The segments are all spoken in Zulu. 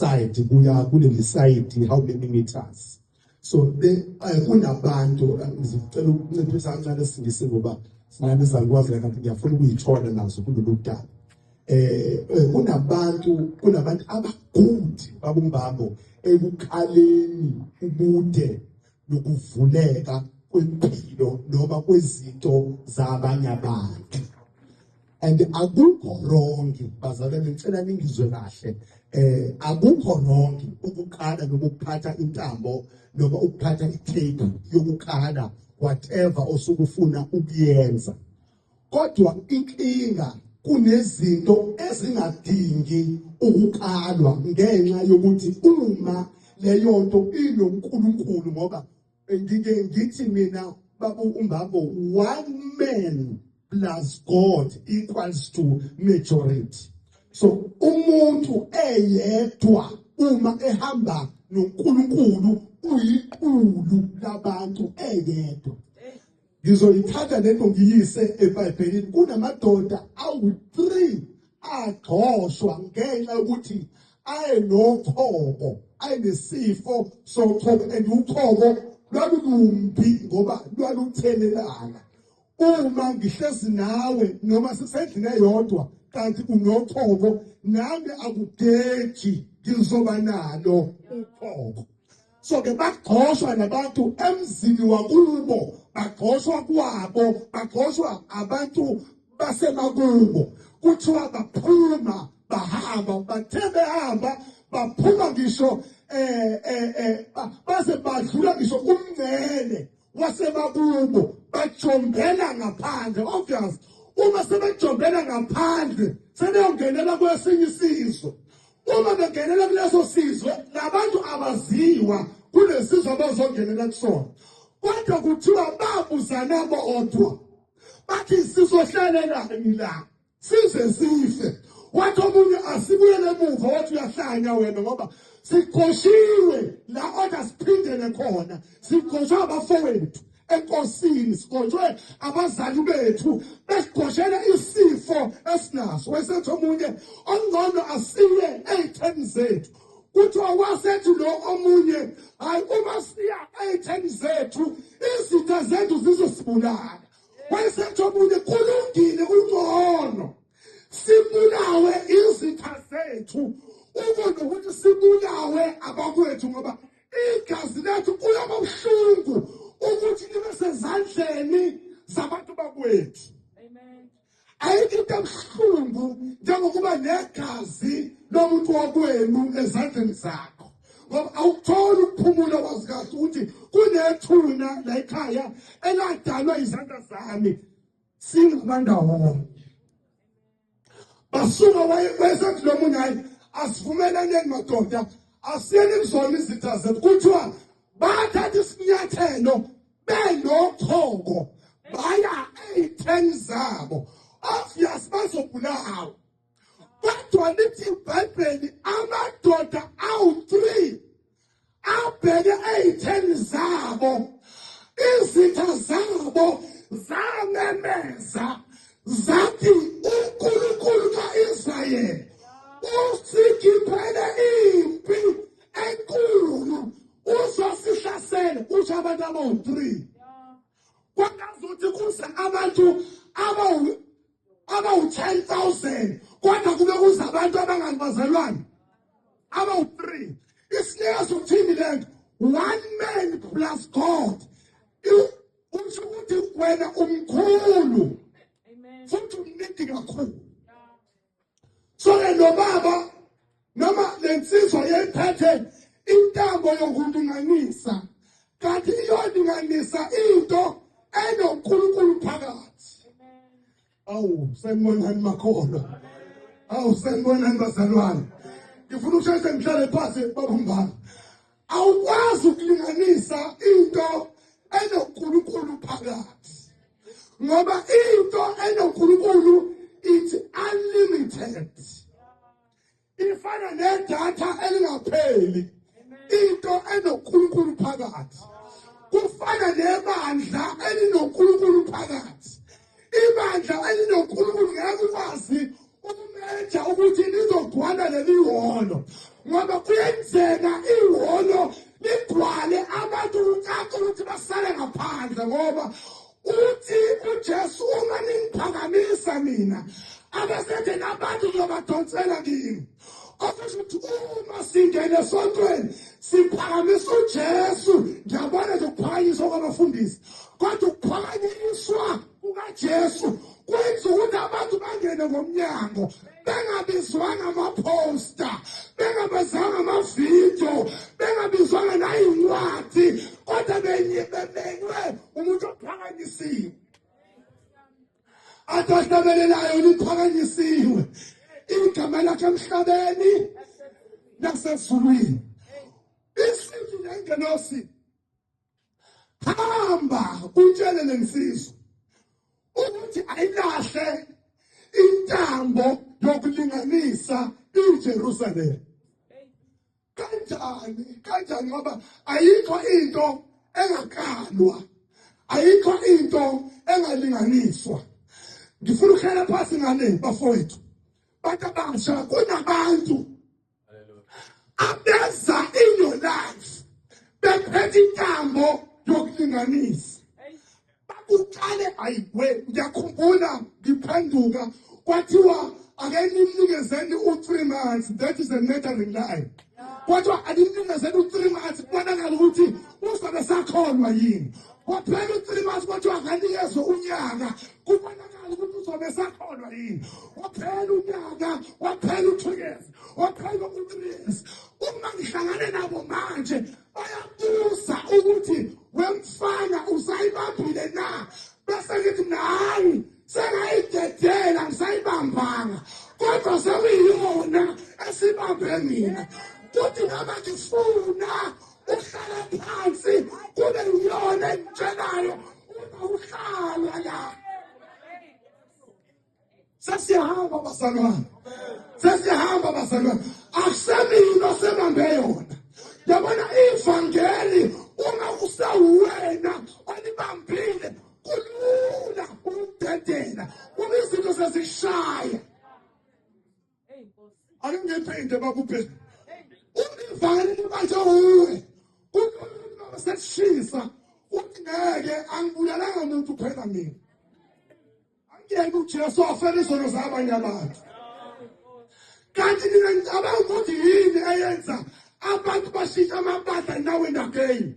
side kuya kuleli side how many meters so eh, kunabantu eh, ngicela ukunciphisa kancane singise ngoba sinani izalukwazi kanti ngiyafuna ukuyithola nazo kulolu daba eh, eh kunabantu kunabantu abagundi babumbambo ekuqaleni ubude nokuvuleka kwempilo noma kwezinto zabanye abantu and akukho wrong bazalwane ngicela ningizwe kahle eh akukho wrong ukuqala nokuphatha intambo noma ukuphatha itape yokuqala whatever osukufuna ukuyenza kodwa inkinga kunezinto ezingadingi ukuqalwa ngenxa yokuthi uma leyo nto inoNkulunkulu ngoba Ngike ngithi mina babu umbambo one man plus God equals to majority. So umuntu eyedwa uma ehamba noNkulunkulu uyiqulu labantu eyedwa. Ngizoyithatha lento ngiyise eBhayibhelini. Kunamadoda awu-3 agxoshwa ngenxa yokuthi ayenokhoko, ayenesifo sokhoko and ukhoko lwalulumbi ngoba lwaluthelelana. Uma ngihlezi nawe noma sisendlini eyodwa kanti unokhoko nami akugeji ngizoba nalo ukhoko. so ke bagxoshwa nabantu emzini wakubo bagxoshwa kwabo bagxoshwa abantu basemakubo kuthiwa baphuma bahamba bathe behamba baphuma ngisho eh eh, eh baze badlula ngisho umngcele wasemakubo bajombela ngaphandle obvious uma sebejombela ngaphandle sebeyongenela kwesinye isizwe uma bengenela kuleso sizwe nabantu abaziwa kulesizwe abazongenela kusona kodwa kuthiwa babuzana bodwa bathi sizohlelelani la size sife wathi omunye asibuyele emuva wathi uyahlanya wena ngoba siqoshiwe la oda siphindele khona siqoshwa abafowethu enkosini sigonjwe abazali bethu besigoshela isifo esinaso wesethu omunye ongcono asiye ey'theni zethu kuthiwa wasethi lo omunye hhayi uma siya ey'theni zethu izitha zethu zizosibulala wayesethi omunye kulungile ungcono sibulawe izitha zethu uko nokuthi sibulawe abakwethu ngoba igazi lethu kuyaba buhlungu ukuthi libe sezandleni zabantu bakwethu ayikho into ebuhlungu njengokuba negazi lomuntu wakwenu ezandleni zakho ngoba awutholi ukuphumula wazi kahle ukuthi kunethuna la ekhaya eladalwa izandla zami singabandawonye basuka wayebese kulo munye hayi asivumelaneni madoda asiyeni kuzona izitha zethu kuthiwa bathatha isinyathelo benochoko baya ey'theni zabo obvious bazobulawa kodwa lithi ibhayibheli amadoda awu-three abheke ey'theni zabo izitha zabo zamemeza zathi unkulunkulu ka-israyeli usikhiphele impi enkulu uzosihlasela kusho abantu abawu-three kwakazuthi kuze abantu abawu abawu-10000 kodwa kube kuza abantu abanganibazalwane abawu-3 isinika sokuthini le nto one man plus god usho ukuthi wena umkhulu futhi umnindi kakhulu so ke lo baba noma le nsizwa yayiphethe intambo yokulinganisa kanti iyolinganisa into enonkulunkulu phakathi awu sengibonani makholwa awu sengibonani bazalwane ngifuna ukusheshe ngihlale phansi babumbana Awukwazi ukulinganisa into enoNkulunkulu phakathi. Ngoba into enoNkulunkulu it's unlimited. Ifana nedatha elingapheli. Into enoNkulunkulu phakathi. Kufana nebandla elinoNkulunkulu phakathi. ibandla elinonkulunkulu ngeke ukwazi ukumeja ukuthi lizogcwala leli hholo ngoba kuyenzeka ihholo ligcwale abantu kucaca ukuthi basale ngaphandle ngoba uthi uJesu uma ningiphakamisa mina abasethe nabantu ngiyobadonsela kimi okusho ukuthi uma singene esontweni siphakamisa ujesu ngiyabona nje ukuphakanyiswa kwabafundisi kodwa ukuphakanyiswa kukajesu kwenza ukuthi abantu bangene ngomnyango bengabizwanga amaphosta bengabizwanga amavidiyo bengabizwanga nayincwadi kodwa benyibemenywe umuntu ophakanyisiwe athi ohlabelelayo liphakanyisiwe igama lakhe emhlabeni nasezulwini isithi nengenosi hamba utshele lensizwa ukuthi ayilahle intambo yokulinganisa iJerusalem kanjani kanjani ngoba ayikho into engakalwa ayikho into engalinganiswa ngifuna ukhela phasi ngane bafowethu bantu abasha kunabantu abeza in your life bephethe intambo yokulinganisa Uqale ayiwe ngiyakhumbula ngiphenduka kwathiwa ake nimnikezeni u-three months that is a murdering lie kodwa alimnikezeni u-three months kubonakala ukuthi uzobe sakholwa yini kwaphela u-three months kodwa akanikezwe unyaka kubonakala ukuthi uzobe sakholwa yini waphela unyaka waphela u-two years waphela u-three years uma ngihlangane nabo manje bayabuza ukuthi wemfana usayibambile na bese ngithi mina hayi sengayidedela ngisayibambanga kodwa sekuyiyona esibambe mina kuthi noma ngifuna uhlala phansi kube yiyona engitshelayo uma uhlala la sesiyahamba bazalwane sesiyahamba bazalwane akusemina osebambe yona yabona ivangeli uma kusawuwena olibambile kulula ukudedela uma izinto sezishaya Ake ngenze into bakuphe. Ungivale manje uwe. Umuntu sesishisa uthi ngeke angibulalanga umuntu phela mina. Angiyeke uJesu afele izono zabanye abantu. Kanti mina ngicabanga ukuthi yini eyenza abantu bashintsha amabandla nawe ndakeni.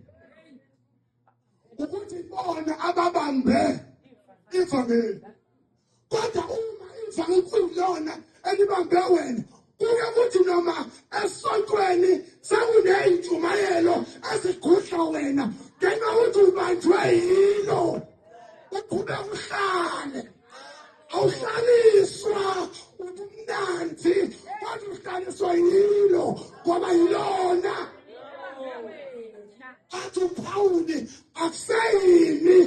ukuthi bona ababambe ivangeli kodwa uma ivangeli kuyilona elibambe wena kuke kuthi noma esontweni sekuneyintshumayelo ezigudla wena ngenxa ukuthi ubanjwe yilo uqhube uhlale awuhlaliswa ubumnandi kodwa uhlaliswa yilo ngoba yilona athi uphawuli akuseyini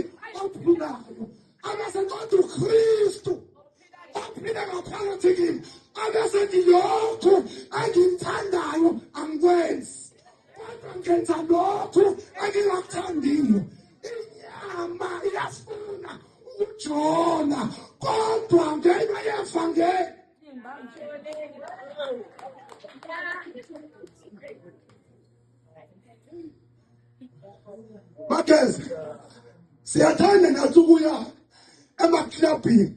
ophilayo abese kodwa ukristu ophila ngaphakathi kimi abese ngilokhu engimthandayo angikwenzi kodwa ngenza lokhu engingakuthandiyo inyama iyafuna ukujola kodwa ngenxa yevangeli bakeze siyathanda nathi ukuya emaklabhini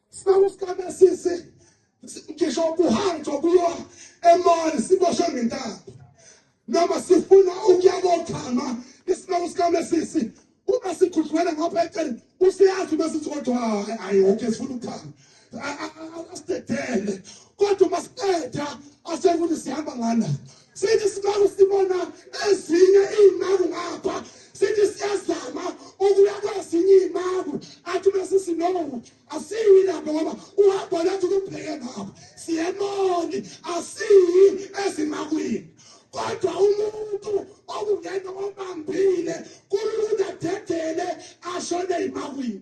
sibawusikabesisi ngisho kuhanjwa kuyo emali siboshwe ngentambo noma sifuna ukuya kochama isibawusikabesisi uma sikhudlwele ngapha eceleni useyazi uma sithi kodwa hayi woke sifuna ukuchama asidedele kodwa uma siqeda asekuthi sihamba ngana sithi siloku sibona ezinye iy'maku ngapha sithi siyazama ukuya kwezinye iy'maku athi uma sithi no asiyi lapho ngoba uhambo lethu kupheke ngapha siyemoni asiyi ezimakwini kodwa umuntu okungena obambile kulula dedele ashone ezimakwini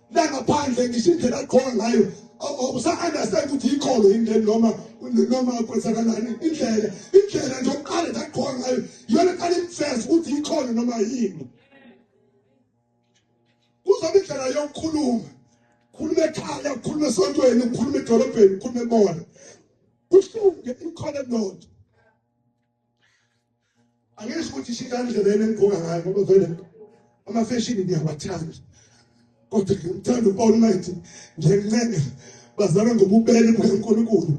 langaphandle ngisho indlela agqoka ngayo usa-understand ukuthi yikholo yini leni noma noma kwenzakalani indlela indlela nje oqale ndagqoka ngayo yona qale imfesa ukuthi yikholo noma yini kuzoba indlela yokukhuluma khuluma ekhaya ukhuluma esontweni ukhuluma edolobheni ukhuluma ebona kufunge ikhona nonto angisho ukuthi shika indlela yena engigqoka ngayo ngoba vele amafeshini ngiyawathanda kodwa ngimthanda u-almighty njencenga bazalwe ngobubele bukankulunkulu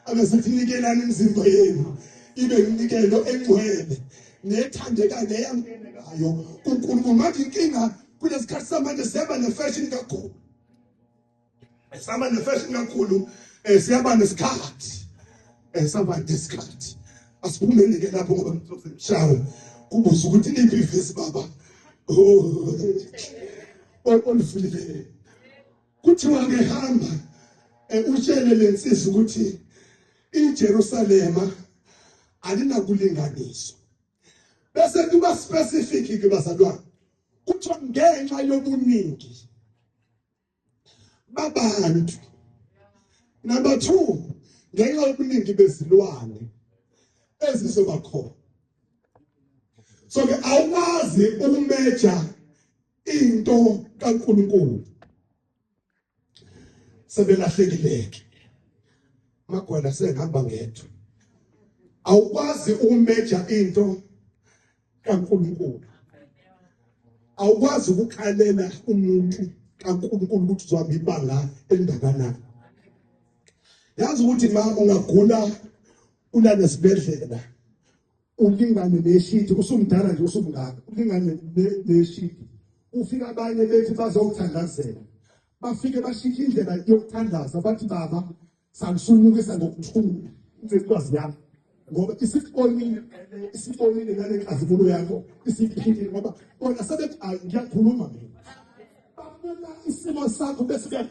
abesakunikelani imizimba yenu ibe yimnikelo engcwele nethandeka neyangenekayo kunkulunkulu manje inkinga kulesikhathi samanje seba nefeshini kakhulu Sihamba nefashion kakhulu eh siyaba nesikhathi eh sihamba nesikhathi asiphumeni ke lapho ngoba mthofu mshawo kubuza ukuthi liphi ivesi baba olufulile kuthiwa ke hamba eh, utshele lensizwa ukuthi iJerusalema alinakulinganiswa bese kuba specific ke bazalwane kuthiwa ngenxa yobuningi babantu number 2 ngenxa yobuningi bezilwane ezizoba khona so ke awumazi ukumeja into kaNkuluNkulu sebelahlekileke magwala sengihamba ngedwa awukwazi ukumeja into kaNkulunkulu awukwazi ukukhalela umuntu kaNkulunkulu ukuthi uzohamba ibanga elingakanani yazi ukuthi mama ungagula ulale esibedlela ulingane neshidi usumdala nje usumngaka ulingane neshidi ufika abanye bethi bazokuthandazela bafike bashintshe indlela yokuthandaza bathi baba Sangisunukisa ngokuthula incwazi yami ngoba isibonile isibonile ngale nkazimulo yakho isiphilile ngoba bona sebethi ayi ngiyakhuluma mina babona isimo sakho bese